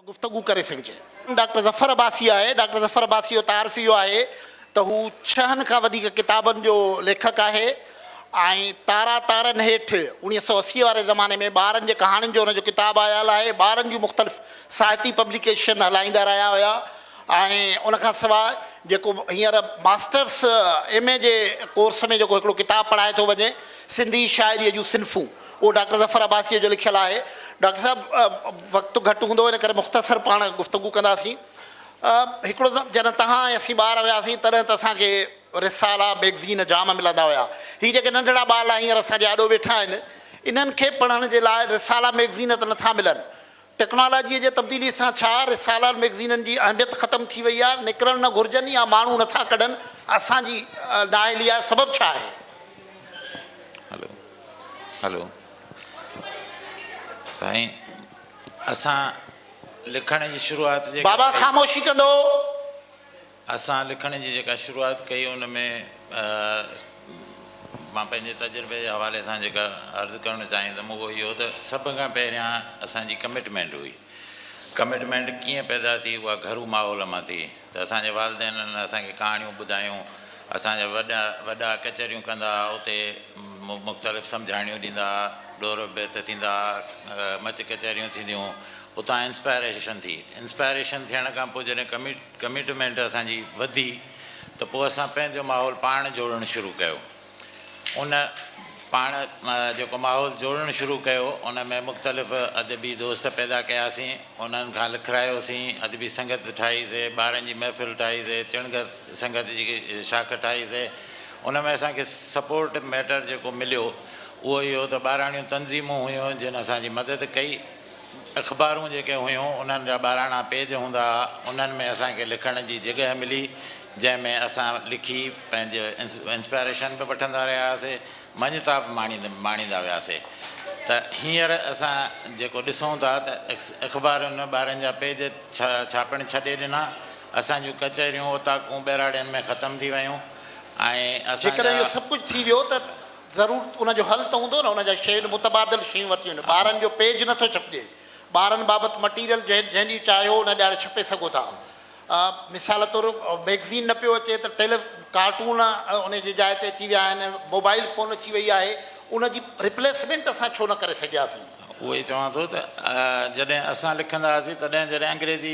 گفتگو ڪري سگهجي. ڊاڪٽر ظفر عباسي آهي. ڊاڪٽر ظفر عباسي جو تعارف اهو آهي ته هو ڇهن کان وڌيڪ ڪتابن جو ليکڪ آهي ۽ تارا تارن هيٺ اوڻيهه سؤ اسي واري زماني ۾ ٻارن جي ڪهاڻين جو هن جو ڪتاب آيل آهي. ٻارن جون مختلف ساهتي پبليڪيشن هلائيندا رهيا هيا ۽ ان کان سواء جيڪو هينئر ماسٽرس ايم اي جي ڪورس ۾ جيڪو هڪڙو ڪتاب پڙهائي ٿو وڃي سنڌي شاعريء جون صنفون. اهو ڊاڪٽر ظفر عباسيء جو لکيل آهي. ڊاڪٽر صاحب وقت گهٽ هوندو ان ڪري مختصر پاڻ گفتگو ڪنداسين. هڪڙو ته جڏهن توهان ۽ اسين ٻار هياسين تڏهن ته اسان کي رسالا، مئگزين جام ملندا هيا. هي جيڪي ننڍڙا ٻارڙا هينئر اسان جي آڏو ويٺا آهن انهن کي پڙهڻ جي لاء رسالا، مئگزين ته نٿا ملن ٽيڪنالاجيء جي تبديليء سان ڇا رسالا مئگزينن جي اهميت ختم ٿي وئي آهي؟ نڪرڻ نه گهرجن يا ماڻهو نه ٿا ڪڍن؟ اسان جي نااهليء جو سبب ڇا آهي؟ هلو هلو سائين اسان لکڻ جي شروعات جي بابا خاموشي ڪندو. اسان لکڻ جي جيڪا شروعات ڪئي ان ۾ مان پنهنجي تجربي جي حوالي سان جيڪا عرض ڪرڻ چاهيندم اهو اهو ته سڀ کان پهريان اسان جي ڪمٽمينٽ هئي. ڪمٽمينٽ ڪيئن پيدا ٿي اها گهرو ماحول مان ٿي ته اسان جي والدينن اسان کي ڪهاڻيون ٻڌايون، اسان جا وڏا وڏا ڪچهريون ڪندا ها اتي مختلف سمجهاڻيون ڏيندا ها، ڏور بيت ٿيندا ها، مچ ڪچهريون ٿينديون اتان انسپائريشن ٿي، انسپائريشن ٿيڻ کان پوء جڏهن ڪمٽ. ڪمٽمينٽ اسان جي وڌي ته پوء اسان پنهنجو ماحول پاڻ جوڙڻ شروع ڪيو. ان پاڻ جيڪو ماحول جوڙڻ شروع ڪيو ان ۾ مختلف ادبي دوست پيدا ڪياسين، انهن کان لکرايوسين، ادبي سنگت ٺاهي سي، ٻارن جي محفل ٺاهي سي، چڻگهه سنگت جي شاخ ٺاهي سي. ان ۾ اسان کي سپورٽ ميٽر جيڪو مليو اهو اهو ته ٻاراڻيون تنظيمون هيون جن اسان جي مدد ڪئي. اخبارون جيڪي هيون انهن جا ٻاراڻا پيج هوندا ها انهن ۾ اسان کي لکڻ جي جڳهه ملي جنهن ۾ اسان لکي پنهنجي انسپائريشن به وٺندا رهيا هئاسي مڃتا به ماڻيندا وياسي ته هينئر اسان جيڪو ڏسون ٿا ته اخبارن ٻارن جا پيج ڇاپڻ ڇڏي ڏنا اسان جون ڪچهريون اوطاقون ٻهراڙين ۾ ختم ٿي ويون ۽ اسان جا جيڪڏهن اهو سڀ ڪجهه ٿي ويو ته ضرور ان جو حل ته هوندو نه ان جا شيڊ متبادل شيون ورتيون آهن ٻارن جو پيج نٿو ڇپجي ٻارن بابت مٽيريل جنهن جنهن ڏينهن چاهيو ان ڏيهاڙي ڇپي سگهو ٿا مثال طور ميگزين نه پيو اچي ته ٽيلي ڪارٽون ان جي جاء تي اچي ويا آهن موبائل فون اچي وئي آهي ان جي ريپليسمينٽ اسان ڇو نه ڪري سگهياسين. اهو ئي چوان ٿو ته جڏهن اسان لکندا هئاسين تڏهن جڏهن انگريزي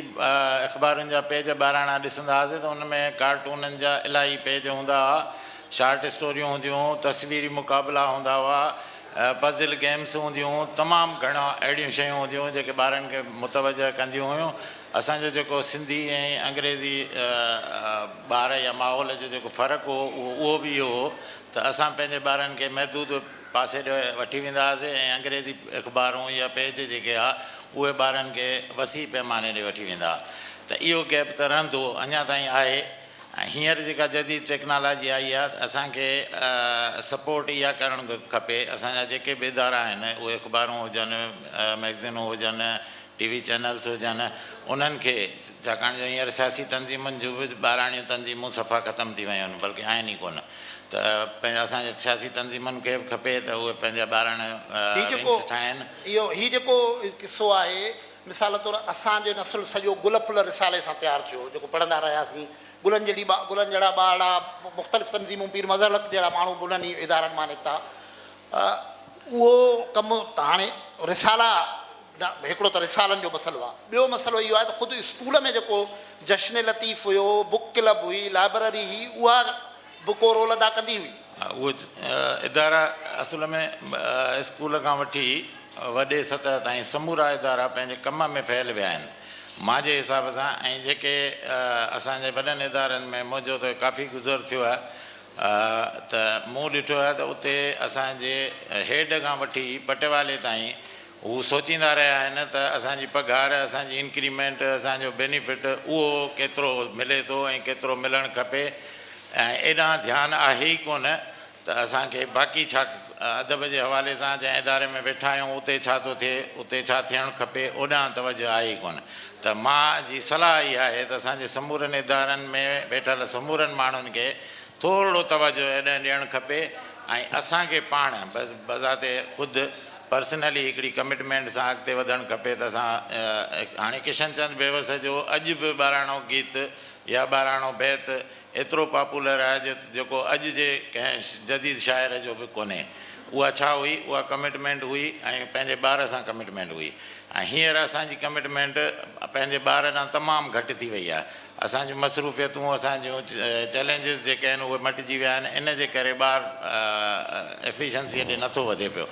اخبارن جا پيج ٻاراڻا ڏسندا هئاسين ته ان ۾ ڪارٽونن جا الاهي پيج هوندا هئا شارٽ اسٽوريون هونديون، تصويري مقابلا هوندا هئا، پزل گيمز هونديون، تمام گهڻا اهڙيون شيون هونديون جيڪي ٻارن کي متوجهه ڪنديون هيون. اسان جو جيڪو سنڌي ۽ انگريزي ٻار يا ماحول جو جيڪو فرق هو اهو به اهو هو ته اسان پنهنجي ٻارن کي محدود پاسي ڏي وٺي ويندا هئاسي ۽ انگريزي اخبارون يا پيج جيڪي ها اهي ٻارن کي وسيع پيماني ڏي وٺي ويندا ها ته اهو گيپ ته رهندو اڃا تائين آهي. ۽ هينئر جيڪا جديد ٽيڪنالاجي آئي آهي ته اسان کي سپورٽ اها ڪرڻ کپي اسان جا جيڪي به ادارا آهن اهي اخبارون هجن مئگزينون هجن ٽي وي چينلز هجن انهن کي ڇاڪاڻ جو هينئر سياسي تنظيمن جون به ٻاراڻيون تنظيمون صفا ختم ٿي ويون آهن بلڪه آهن ئي ڪونه ته پنهنجا اسان جي سياسي تنظيمن کي به کپي ته اهي پنهنجا ٻاراڻا ونگز ٺاهين. هي جيڪو قصو آهي مثال طور اسان جو نسل سڄو گل ڦل رسالي سان تيار ٿيو، جيڪو پڙهندا رهياسين. گلن جهڙي ٻا، گلن جهڙا ٻارڙا، مختلف تنظيمون، پير مظهر الحق جهڙا ماڻهو به انهن ئي ادارن مان نڪتا. اهو ڪم ته هاڻي رسالا، هڪڙو ته رسالن جو مسئلو آ. ٻيو مسئلو اهو آهي ته خود اسڪول ۾ جيڪو جشن لطيف هيو، بوڪ ڪلب هئي، لائبرري هئي، اها به ڪو رول ادا ڪندي هئي. اهو اداره اصل ۾ اسڪول کان وٺي وڏي سطح تائين سمورا ادارا پنهنجي ڪم ۾ فيل ويا آهن مانجي حساب سان ۽ جيڪي اسان جي وڏن ادارن ۾ منهنجو ته ڪافي گذر ٿيو آهي ته مون ڏٺو آهي ته اتي اسان جي هيڊ کان وٺي پٽيوالي تائين هو سوچيندا رهيا آهن ته اسان جي پگهار، اسان جي انڪريمينٽ، اسان جو بينيفٽ اهو ڪيترو ملي ٿو ۽ ڪيترو ملڻ کپي ۽ ايڏانهن ڌيان آهي ئي ڪونه ته اسان کي باقي ڇا ادب جي حوالي سان جنهن اداري ۾ ويٺا آهيون اتي ڇا ٿو ٿئي، اتي ڇا ٿيڻ کپي اوڏانهن توجه آهي ئي ڪونه ته مان جي صلاح اها آهي ته اسان جي سمورن ادارن ۾ ويٺل سمورن ماڻهن کي ٿورڙو توجه ايڏانهن ڏيڻ کپي ۽ اسان کي پاڻ بس بذات خود پرسنلي هڪڙي ڪمٽمينٽ سان اڳتي وڌڻ کپي ته اسان هاڻي ڪشن چند بيوس جو اڄ به ٻاراڻو گيت يا ٻاراڻو بيت ايترو پاپولر آهي جو جيڪو اڄ جي ڪنهن جديد شاعر جو به ڪونهي اها ڇا هئي اها ڪمٽمينٽ هئي ۽ پنهنجي ٻار سان ڪمٽمينٽ هئي ۽ هينئر اسان جي ڪمٽمينٽ پنهنجي ٻار ڏانهن تمام گهٽ ٿي وئي آهي اسان جون مصروفيتون، اسان جون چئلينجز جيڪي آهن اهي مٽجي ويا آهن، ان جي ڪري ٻار ايفيشنسيء ڏي نٿو وڌي پيو.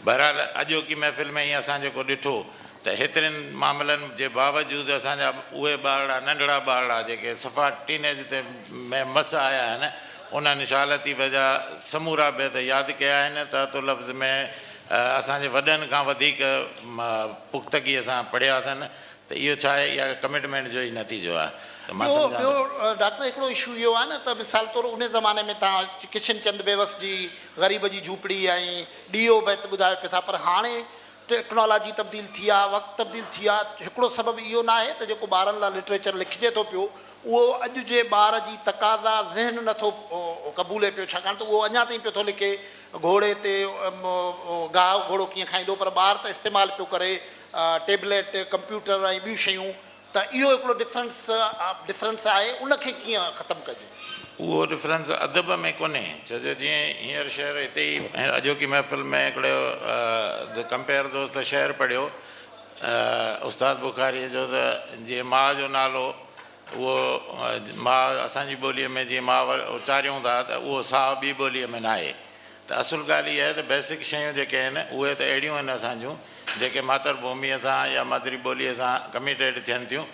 بهرحال اڄوڪي محفل ۾ هي اسان جيڪو ڏٺو ته هيترين معاملن جي باوجود اسان جا اهي ٻارڙا ننڍڙا ٻارڙا جيڪي صفا ٽين ايج تي ۾ مس آيا آهن انهن شاهه لطيف جا سمورا بيت ياد ڪيا آهن ته تو لفظ ۾ اسان جي وڏن کان وڌيڪ پختگيء سان پڙهيا اٿن ته اهو ڇا آهي اها ڪمٽمينٽ جو ئي نتيجو آهي ته مان سمجهان ٿو. ٻيو ڊاڪٽر هڪڙو اشو اهو آهي نه ته مثال طور انهي زماني ۾ تان ڪشن چند بيوس جي غريب جي جهوپڙي ۽ ڏيئو بيت ٻڌايو پئي ٿا پر هاڻي ٽيڪنالاجي تبديل ٿي آهي وقت تبديل ٿي آهي هڪڙو سبب اهو نه آهي ته جيڪو ٻارن لاء لٽريچر لکجي ٿو پيو اهو اڄ جي ٻار جي تقاضا ذهن نه ٿو قبولي پيو ڇاڪاڻ ته اهو اڃا تائين پيو ٿو لکي گهوڙي تي گاهه گهوڙو ڪيئن کائيندو پر ٻار ته استعمال پيو ڪري ٽيبليٽ، ڪمپيوٽر ۽ ٻيون شيون ته اهو هڪڙو ڊفرنس Difference آهي ان کي ڪيئن ختم ڪجي؟ اهو ڊفرنس ادب ۾ ڪونهي ڇو جو جيئن هينئر شعر هتي ئي اڄوڪي محفل ۾ هڪڙو The Compare دوست شعر پڙهيو استاد بخاريء جو ته جيئن ماء جو نالو اهو ماء اسان جي ٻوليء ۾ جيئن ماء اچاريون ٿا ته اهو ساهه ٻي ٻوليء ۾ ناهي ته اصل ڳالهه اها آهي ته بيسڪ شيون جيڪي آهن اهي ته اهڙيون آهن اسان جون جيڪي ماتر ڀوميء سان يا مادري ٻوليء سان ڪميٽيڊ ٿين ٿيون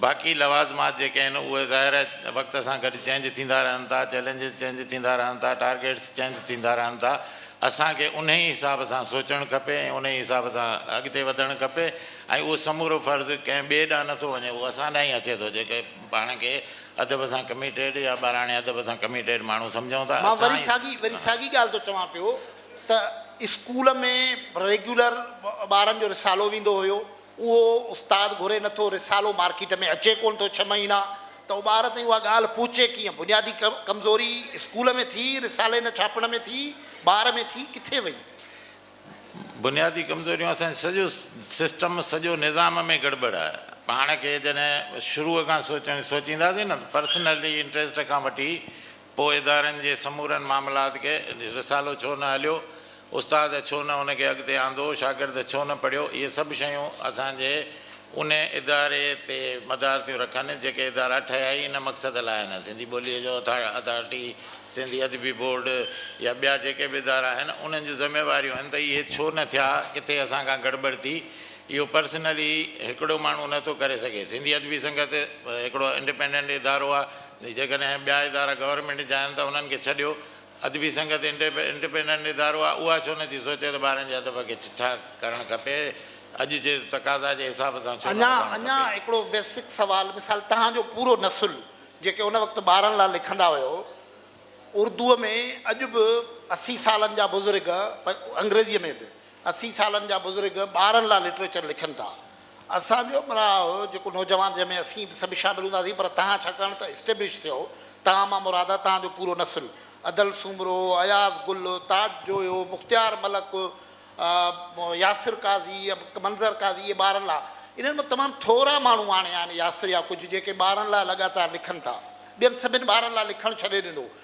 باقي لوازمات جيڪي آهن اهي ظاهر آهي وقت سان گڏ چينج ٿيندا رهن ٿا چئلينجز چينج ٿيندا رهن ٿا ٽارگيٽس چينج ٿيندا رهن ٿا اسان کي انهي حساب سان سوچڻ کپي ۽ انهي حساب سان اڳتي وڌڻ کپي ۽ اهو سمورو فرض ڪنهن ٻئي ڏانهن نه ٿو وڃي، اهو اسان ڏانهن ئي اچي ٿو، جيڪي پاڻ کي ادب سان ڪميٽيڊ يا ٻاراڻي ادب سان ڪميٽيڊ ماڻهو سمجهون ٿا، مان اسان وري ئي. ساڳي وري ساڳي ڳالهه ٿو چوان پيو ته اسڪول ۾ ريگيولر ٻارن جو رسالو ويندو هيو، اهو استاد گهري نه ٿو، رسالو مارڪيٽ ۾ اچي ڪونه ٿو ڇهه مهينا، ته اهو ٻار تائين اها ڳالهه پهچي ڪيئن؟ بنيادي ڪمزوري اسڪول ۾ ٿي، رسالي نه ڇاپڻ ۾ ٿي، ٻار ۾ ٿي، ڪٿي وئي؟ بنيادي ڪمزوريون اسان جي سڄو سسٽم سڄو نظام ۾ گڙٻڙ آهي پاڻ کي جڏهن شروع کان سوچڻ سوچينداسين نه ته پرسنلٽي انٽريسٽ کان وٺي پوء ادارن جي سمورن معاملات کي رسالو ڇو نه هليو استاد ڇو نه ان کي اڳتي آندو شاگرد ڇو نه پڙهيو اهي سڀ شيون اسان جي ان اداري تي مدار ٿيون رکن، جيڪي ادارا ٺهيا ئي ان مقصد لاء آهن. سنڌي ٻوليء جو اٿارٽي، سنڌي ادبي بورڊ يا ٻيا جيڪي به ادارا آهن، انهن جون ذميواريون آهن ته اهي ڇو نه ٿيا، ڪٿي اسان کان گڙٻڙ ٿي، اهو پرسنلي هڪڙو ماڻهو نه ٿو ڪري سگهي. سنڌي ادبي سنگت هڪڙو انڊپينڊنٽ ادارو آهي، جيڪڏهن ٻيا ادارا گورنمينٽ جا آهن ته انهن کي ڇڏيو، ادبي سنگت انڊپينڊنٽ ادارو آ اها ڇو نٿي سوچي ته ٻارن جي ادب کي ڇڇا ڪرڻ کپي اڄ جي تقاضا جي حساب سان ڇو نه اڃان وڌائڻ اڃان کپي. هڪڙو بيسڪ سوال مثال تهان جو پورو نسل جيڪي ان وقت ٻارن لا لکندا هيو اردوء ۾ اڄ به اسي سالن جا بزرگ انگريزيء ۾ به اسي سالن جا بزرگ ٻارن لاء لٽريچر لکن ٿا. اسان جو به راء هو جيڪو نوجوان جنهن ۾ اسين به سڀ شامل هونداسين پر توهان ڇاڪاڻ ته اسٽيبلش ٿيو توهان مان مراد آهي توهان جو پورو نسل ادل سومرو، اياز گل، تاج جويو، مختيار ملڪ، ياسر قاضي، منظر قاضي اهي ٻارن لاء انهن مان تمام ٿورا ماڻهو هاڻي آهن ياسر يا ڪجهه جيڪي ٻارن لاء لڳاتار لکن ٿا ٻين سڀن ٻارن لاء لکڻ ڇڏي ڏنو.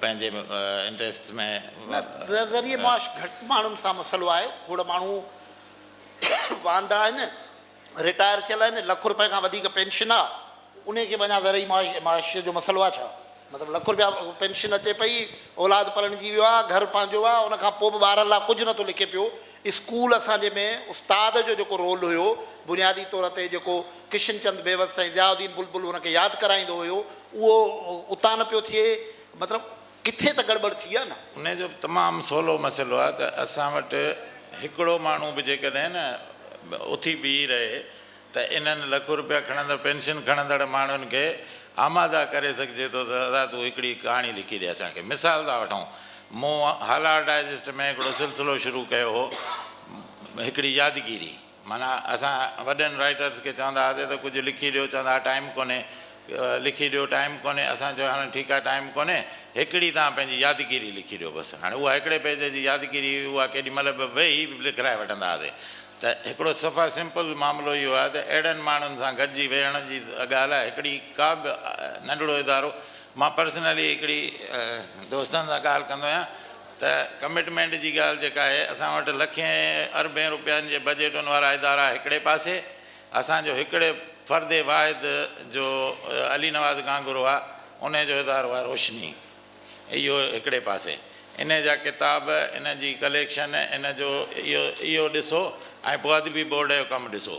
پنهنجي انٽريسٽس ۾ نه ذريعي معاش گهٽ ماڻهن سان مسئلو آهي کوڙ ماڻهو واندا آهن رٽائر ٿيل آهن لک روپئي کان وڌيڪ پينشن آ انهي کي به اڃا ذرعي معاش جو مسئلو آ ڇا مطلب لک روپيا پينشن اچي پئي اولاد پرڻجي ويو آ گهر پنهنجو آ ان کان پوء به ٻارن لا ڪجهه نه ٿو لکي پيو اسڪول اسان جي ۾ استاد جو جيڪو رول هيو بنيادي طور تي جيڪو ڪشن چند بيوس سائين ضياء الدين بلبل ان کي ياد ڪرائيندو هيو اهو اتان نه پيو ٿئي مطلب ڪٿي ته گڙٻڙ ٿي آ نه. ان جو تمام سولو مسئلو آ ته اسان وٽ هڪڙو ماڻهو به جيڪڏهن نه اٿي بيهي رهي ته انهن لک روپيا کڻندڙ پينشن کڻندڙ ماڻهن کي آماده ڪري سگهجي ٿو ته ذرا تون هڪڙي ڪهاڻي لکي ڏي اسان کي. مثال ٿا وٺون، مون هالار ڊائجسٽ ۾ هڪڙو سلسلو شروع ڪيو هو، هڪڙي يادگيري. معنيٰ اسان وڏن رائيٽرز کي چوندا هئاسين ته ڪجهه لکي ڏيو، چوندا هئا ٽائيم ڪونهي، لکي ڏيو ٽائيم ڪونهي، اسان چيو هاڻ ٺيڪ آهي ٽائيم ڪونهي، هڪڙي توهان پنهنجي يادگيري لکي ڏيو بس. هاڻي اها هڪڙي پيج جي يادگيري هئي، اها ڪيڏي مهل به ويهي لکرائي وٺندا هئاسين. ته هڪڙو صفا سمپل معاملو اهو آهي ته اهڙن ماڻهن سان گڏجي ويهڻ جي اڳا لاء هڪڙي ڪا به ننڍڙو ادارو مان پرسنلي هڪڙي دوستن سان ڳالهه ڪندو آهيان ته ڪمٽمينٽ جي ڳالهه جيڪا آهي اسان وٽ لکين اربين روپين جي بجيٽن وارا ادارا هڪڙي پاسي اسان جو هڪڙي فرد واحد جو علي نواز گانگورو آهي انهي جو ادارو آهي روشني اهو هڪڙي پاسي ان جا ڪتاب ان جي ڪليڪشن ان جو اهو اهو ڏسو ۽ پوء ادبي بورڊ جو ڪم ڏسو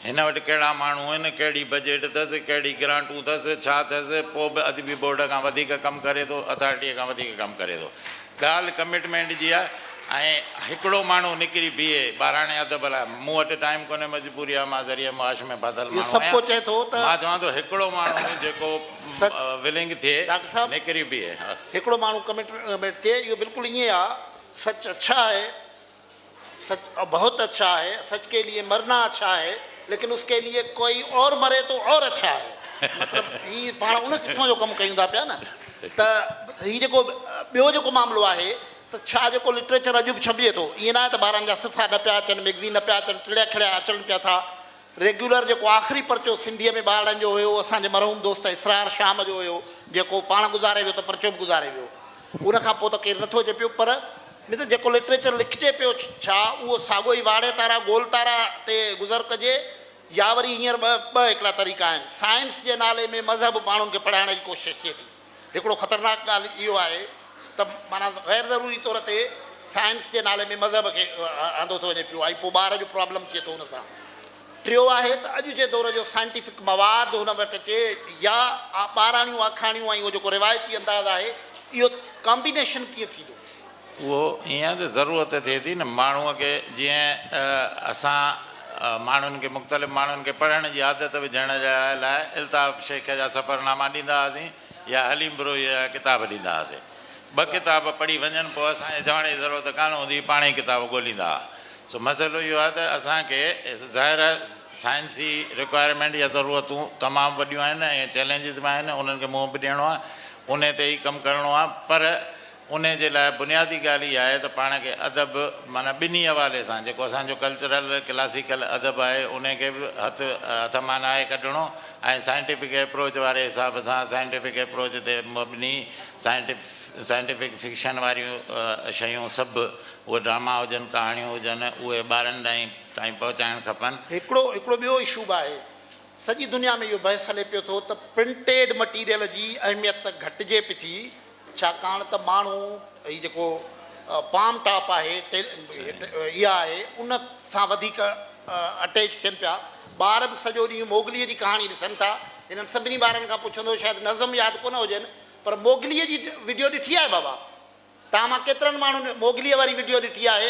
هن وٽ ڪهڙا ماڻهو آهن ڪهڙي بجيٽ اٿس ڪهڙي گرانٽون اٿس ڇا اٿس پوء به ادبي بورڊ کان وڌيڪ ڪم ڪري ٿو اٿارٽيء کان وڌيڪ ڪم ڪري ٿو ڳالهه ڪمٽمينٽ جي آهي ۽ هڪڙو ماڻهو نڪري بيهي ٻاراڻي ادب لاء مون وٽ ٽائيم ڪونهي مجبوري آهي مان ذريعه معاش ۾ ڦاٿل ماڻهو آهيان مان چوان ٿو هڪڙو ماڻهو جيڪو سگهه. ولينگ ٿئي ڊاڪٽر صاحب نڪري بيهي ها. هڪڙو ماڻهو ڪميٽ ميٽ چي اهو بلڪل ائين آ سچ اڇا هي سچ بهت اڇا هي سچ ڪي ليي مرنا اڇا هي ليڪن اس ڪي ليي ڪوئي اور مري تو اور اڇا هي مطلب هي پاڻ ان قسم جو ڪم ڪيون ٿا پيا نه ته هي جيڪو ٻيو جيڪو معاملو آهي ته ڇا جيڪو لٽريچر اڄ به ڇپجي ٿو ائين نه آهي ته ٻاهران جا صفحا نه پيا اچن ميگزين نه پيا اچن ٽڙيا کڙيا اچڻ پيا ٿا ريگيولر جيڪو آخري پرچو سنڌيء ۾ ٻارڙن جو هيو، اهو اسان جي مرحوم دوست اسرار شام جو هيو، جيڪو پاڻ گذاري ويو ته پرچو به گذاري ويو. ان کان پوء ته ڪير نه ٿو اچي پيو، پر مت جيڪو لٽريچر لکجي پيو ڇا، اهو ساڳيو ئي واڙي تارا گول تارا تي گذر ڪجي يا وري هينئر ٻه ٻه هڪڙا طريقا آهن. سائنس جي نالي ۾ مذهب ماڻهن کي پڙهائڻ جي ڪوشش ٿئي ٿي. هڪڙو خطرناڪ ڳالهه اهو آهي ته معنيٰ غير ضروري طور تي سائنس جي نالي ۾ مذهب کي آندو ٿو وڃي پيو ۽ پوء ٻار جو پرابلم ٿئي ٿو ان سان. ٽيون آهي ته اڄ جي دور جو سائنٽيفڪ مواد هن وٽ اچي يا ٻاراڻيون آکاڻيون ۽ اهو جيڪو روايتي انداز آهي اهو ڪامبينيشن ڪيئن ٿيندو. اهو ايئن ته ضرورت ٿئي ٿي نه ماڻهوء کي جيئن اسان ماڻهن کي مختلف ماڻهن کي پڙهڻ جي عادت وجهڻ جي لاء الطاف شيخ جا سفرناما ڏيندا هئاسين يا حليم بروهيء جا ڪتاب ڏيندا هئاسين. ٻه ڪتاب پڙهي وڃن پوء اسان کي چوڻ جي ضرورت ڪانه هوندي هئي پاڻهي ڪتاب ڳوليندا هئا. سو مسئلو اهو آهي ته اسان کي ظاهر آهي سائنسي رڪوائرمينٽ يا ضرورتون تمام وڏيون آهن ۽ چئلينجز به آهن انهن کي منهن به ڏيڻو آهي انهي تي ئي ڪم ڪرڻو آهي پر انهي جي لاء بنيادي ڳالهه اها آهي ته پاڻ کي ادب معنيٰ ٻنهي حوالي سان جيڪو اسان جو ڪلچرل ڪلاسيڪل ادب آهي انهي کي به هٿ هٿ مان ناهي ڪڍڻو ۽ سائنٽيفڪ ايپروچ واري حساب سان سائنٽيفڪ ايپروچ تي مبني سائنٽيف سائنٽيفڪ فڪشن واريون شيون سڀ اهي ڊراما هجن ڪهاڻيون هجن اهي ٻارن ڏانهن تائين پهچائڻ کپن. هڪڙو هڪڙو ٻيو اشو به آهي. سڄي دنيا ۾ اهو بحث هلي پيو ٿو ته پرنٽيڊ مٽيريل جي اهميت ته گهٽجي پي ٿي ڇاڪاڻ ته ماڻهو هي جيڪو پام ٽاپ آهي اها آهي ان سان وڌيڪ اٽيچ ٿين پيا. ٻار به سڄو ڏينهن موگليء جي ڪهاڻي ڏسن ٿا. هنن سڀني ٻارن کان پڇندو شايد نظم ياد ڪونه هجين پر موگليء جي وڊيو ڏٺي آهي بابا؟ توهان مان ڪيترن ماڻهن موگليء واري وڊيو ڏٺي آهي؟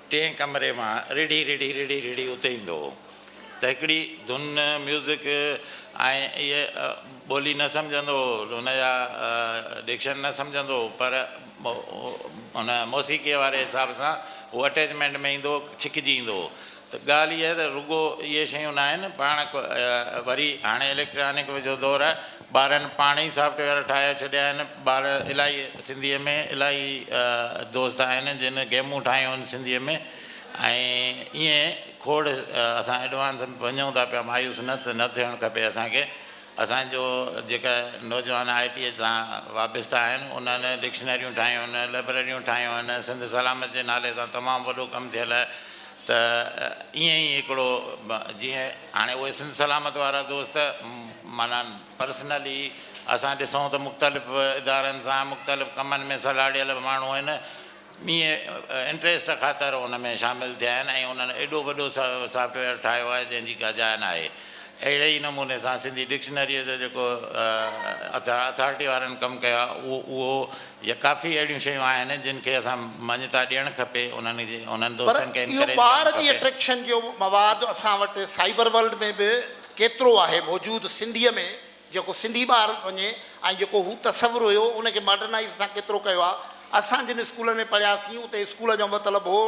ٽئين ڪمري مان رڙهي رڙهي رڙهي رڙهي اتي ايندو هو ته هڪڙي ڌن، ميوزڪ، ۽ اهي ٻولي نه سمجهندو هو، هن جا ڊڪشن نه سمجهندو هو پر ان موسيقيء واري حساب سان هو اٽيچمينٽ ۾ ايندو هو، ڇڪجي ايندو هو ته ڳالهه اها ته رڳو اهي شيون ناهن، پاڻ وري هاڻي اليڪٽرانڪ جو دور آهي، ٻارن پاڻ ئي سافٽ ويئر ٺاهي ڇڏيا آهن ٻار الاهي سنڌي ۾ الاهي دوست آهن جن گيمون ٺاهيون آهن سنڌي ۾ ۽ ائين کوڙ اسان ايڊوانس ۾ وڃون ٿا پيا مايوس نه نه ٿيڻ کپي اسان کي اسان جو جيڪا نوجوان آء ٽي سان وابسته آهن انهن ڊڪشنريون ٺاهيون آهن لئبرريون ٺاهيون آهن سنڌ سلامت جي نالي سان تمام وڏو ڪم ٿيل آهي ته ائين ئي هڪڙو جيئن هاڻي اهي سنڌ سلامت وارا دوست معنيٰ پرسنلي اسان ڏسون ته مختلف ادارن سان مختلف ڪمن ۾ سلهاڙيل ماڻهو آهن ائين انٽريسٽ خاطر ان ۾ شامل ٿيا آهن ۽ انهن ايڏو وڏو سافٽ ويئر ٺاهيو آهي جنهن جي ڪا جاء ناهي اهڙي ئي نموني سان سنڌي ڊڪشنريء جو جيڪو اٿارٽي وارن ڪم ڪيو آهي اهو يا ڪافي اهڙيون شيون آهن جن کي اسان مڃتا ڏيڻ کپي انهن جي انهن پر دوستن کي اهو انڪريج ٻار ڪرڻ جي کپي. اٽريڪشن جو مواد اسان وٽ سائبر ورلڊ ۾ به ڪيترو آهي موجود سنڌيء ۾ جيڪو سنڌي ٻار وڃي ۽ جيڪو هو تصور هيو ان کي ماڊرنائيز اسان ڪيترو ڪيو آهي اسان جن اسڪولن ۾ پڙهياسين اتي اسڪول جو مطلب هو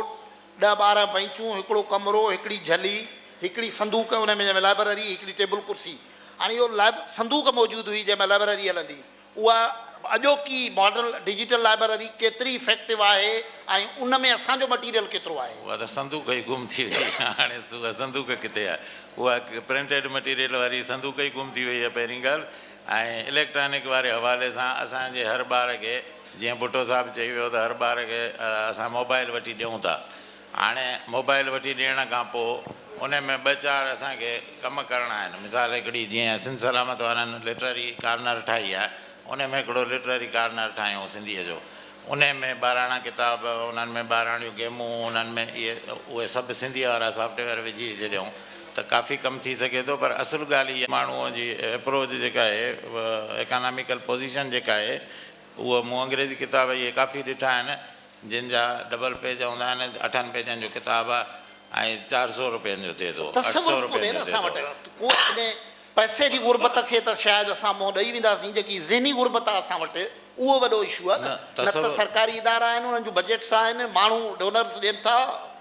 ڏهه ٻارهن بئنچون هڪڙو ڪمرو هڪڙي جهلي هڪڙي صندوق ان ۾ جنهن ۾ لائبرري هڪڙي ٽيبل ڪرسي هاڻي اهو لائب صندوق موجود هئي جنهن ۾ لائبرري هلندي اها اڄوڪي ماڊل ڊجيٽل لائبرري ڪيتري افيڪٽو آهي ۽ ان ۾ اسان جو مٽيريل ڪيترو آهي؟ اها ته صندوق ئي گم ٿي وئي آهي هاڻي اها صندوق ڪٿي آهي؟ اها پرنٽيڊ مٽيريل واري صندوق ئي گم ٿي وئي آهي پهرين ڳالهه ۽ اليڪٽرانڪ واري حوالي سان اسان جي هر ٻار کي جيئن ڀٽو صاحب چئي ويو ته هر ٻار کي اسان موبائل وٺي ڏيون ٿا هاڻي موبائل وٺي ڏيڻ کان پوء انهي ۾ ٻه چار اسان کي ڪم ڪرڻا آهن. مثال هڪڙي جيئن سنڌ سلامت وارن لٽرري ڪارنر ٺاهي آهي انهي ۾ هڪڙو لٽرري ڪارنر ٺاهيون سنڌيء جو انهي ۾ ٻاراڻا ڪتاب انهن ۾ ٻاراڻيون گيمون انهن ۾ اهي اهي سڀ سنڌيء وارا سافٽ ويئر وجهي وجهي ڏيون ته ڪافي ڪم ٿي سگهي ٿو پر اصل ڳالهه اها ماڻهوء جي اپروچ جيڪا آهي اڪاناميڪل پوزيشن جيڪا آهي اهو مون انگريزي ڪتاب اهي ڪافي ڏٺا آهن. جن جا ڊبل پيج هوندا آهن، اٺن پيجن جو ڪتاب ۽ چار سؤ روپين جو ٿئي ٿو. تصور به ڪونهي نه اسان وٽ ڪو اهڙي پئسي جي غربت کي ته شايد اسان منهن ڏئي وينداسين، جيڪي ذهني غربت آهي اسان وٽ اهو وڏو اشو آهي نه، نه ته سرڪاري ادارا آهن انهن جون بجيٽس آهن، ماڻهو ڊونرز ڏين ٿا،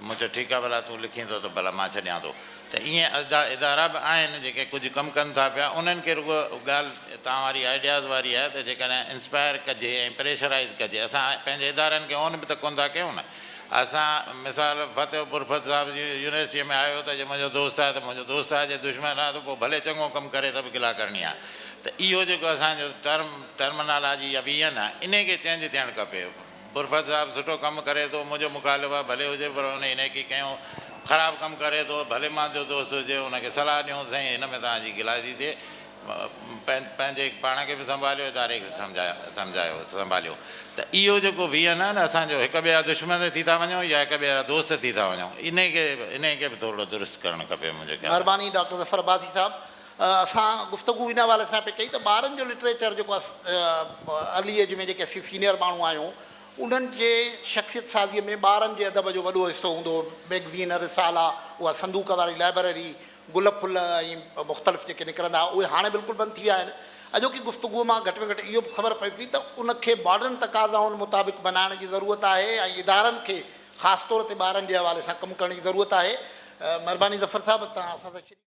مون چيو ٺيڪ آ ڀلا تون لکين ٿو ته ڀلا مان ڇڏيان ٿو ته ائين ادا ادارا به آهن جيڪي ڪجهه ڪم ڪن ٿا پيا انهن کي رڳو ڳالهه توهان واري آئيڊياز واري آهي ته جيڪڏهن انسپائر ڪجي ۽ پريشرائيز ڪجي اسان پنهنجي ادارن کي اون به ته ڪون ٿا ڪيون نه اسان مثال فتح پورفت صاحب جي يونيورسٽي ۾ آيو ته جي منهنجو دوست آهي ته منهنجو دوست آهي جي دشمن آهي ته پوء ڀلي چڱو ڪم ڪري ته به گلا ڪرڻي آهي ته اهو جيڪو اسان جو ٽرم ٽرمنالاجي يا ويهين آهي انهي کي چينج ٿيڻ کپي. برفت صاحب سٺو ڪم ڪري ٿو منهنجو مخالف آ ڀلي هجي پر هن انيڪي ڪيون خراب ڪم ڪري ٿو ڀلي مان جو دوست هجي هن کي صلاح ڏيون سائين هن ۾ توهان جي گلا ٿي ٿئي پنهنجي پاڻ کي به سنڀاليو اداري کي سمجهايو سمجهايو سنڀاليو ته اهو جيڪو ويهن آهي نه اسان جو هڪ ٻئي جا دشمن ٿي ٿا وڃون يا هڪ ٻئي جا دوست ٿي ٿا وڃون انهي کي انهي کي به ٿورڙو درست ڪرڻ کپي منهنجي خيال ۾. مھرباني ڊاڪٽر ظفر عباسي صاحب اسان گفتگو ان حوالي سان پئي ڪئي ته ٻارن جو لٽريچر جيڪو ارلي ايج ۾ جيڪي اسين سينيئر ماڻهو آهيون انهن جي شخصيت سازيء ۾ ٻارن جي ادب جو وڏو حصو هوندو هو مئگزين رسالا اها صندوق واري لائبرري گل ڦل ۽ مختلف جيڪي نڪرندا هئا اهي هاڻي بلڪل بند ٿي ويا آهن اڄوڪي گفتگو مان گهٽ ۾ گهٽ اهو به خبر پئي پئي ته ان کي ماڊرن تقاضائن مطابق بنائڻ جي ضرورت آهي ۽ ادارن کي خاص طور تي ٻارن جي حوالي سان ڪم ڪرڻ جي ضرورت آهي مهرباني ظفر صاحب توهان اسان سان شريڪ